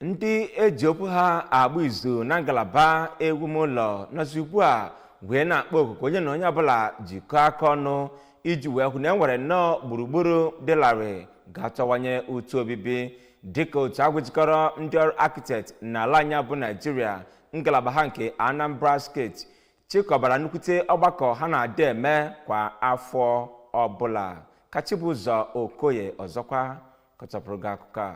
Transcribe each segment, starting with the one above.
ndị eji okwu ha agba izu na ngalaba ewumụlọ nọzi ugbu a wee na-akpọ oku ka onye na onye ọbụla jikọọ aka ọnụ iji wee hụ na e nwere nnọọ gburugburu dị larịị ga-atọwanye ụtọ obibi dịka otu ahụ jikọrọ ndị ọrụ architect n'ala anyị bụ naijiria ngalaba ha nke anambra steeti chịkọbara nnukwute ọgbakọ ha na-adị eme kwa afọ ọbụla ka chibụzọ okoye ọzọkwa kọchapụrụ gị akụkọ a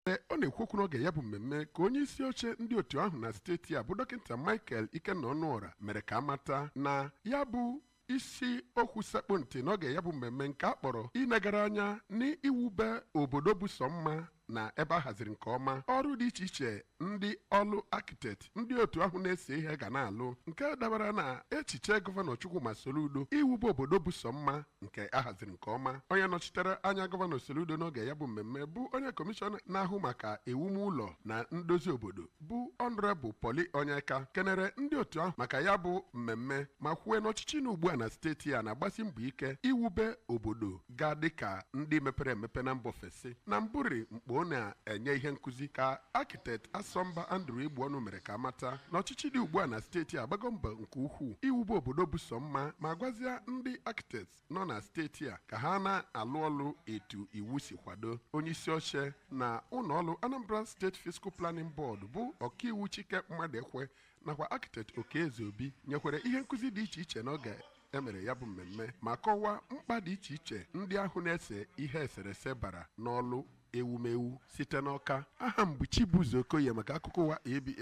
Ee, ọ na-ekwu okwu n'oge ya bụ mmemme ka onye isi oche ndị otu ahụ na steeti a bụ dọkịta Michael Ikenna Ọnụọra mere ka a mata na ya bụ isi okwu sekpụ ntị n'oge ya bụ mmemme nke a kpọrọ inegara anya n'iwube obodo bụ sọ mma na ebe a haziri nke ọma ọrụ dị iche iche ndị ọrụ architect ndị otu ahụ na-ese ihe ga na-alụ nke dabara na echiche gọvanọ Chukwuma Soludo iwube obodo bụ sọ mma nke a haziri nke ọma onye nọchitere anya gọvanọ Soludo n'oge ya bụ mmemme bụ onye kọmishọna na-ahụ maka ewumụlọ na ndozi obodo bụ Honourable Pauly Onyeka kenere ndị otu ahụ maka ya bụ mmemme ma kwue na ọchịchị nọ ugbu a na steeti a na-agbasi mbọ ike iwube obodo ga-adị ka ndị mepere emepe na mba ofesi na mbụrị mgbe ọ na-enye ihe nkụzi ka architect Asọmba Andrew Egbuọnụ mere ka a mata na ọchịchị dị ugbu a na steeti a agbago mbọ nke ukwuu iwube obodo bụ sọ mma ma gwazia ndị architect nọ na steeti a ka ha na-alụ ọlụ etu iwu si kwado onye isi oche na ụlọọrụ Anambra State Physical Planning Board bụ ọkaiwu Chike Mmadụekwe nakwa Architect Okey Ezeobi nyekwere ihe nkụzi dị iche iche n'oge e mere ya bụ mmemme ma kọwaa mkpa dị iche iche ndị ahụ na-ese ihe eserese bara n'ọlụ ewumewu site n'Ọka aha m bụ Chibụzọ Okoye maka akụkọ ụwa ABS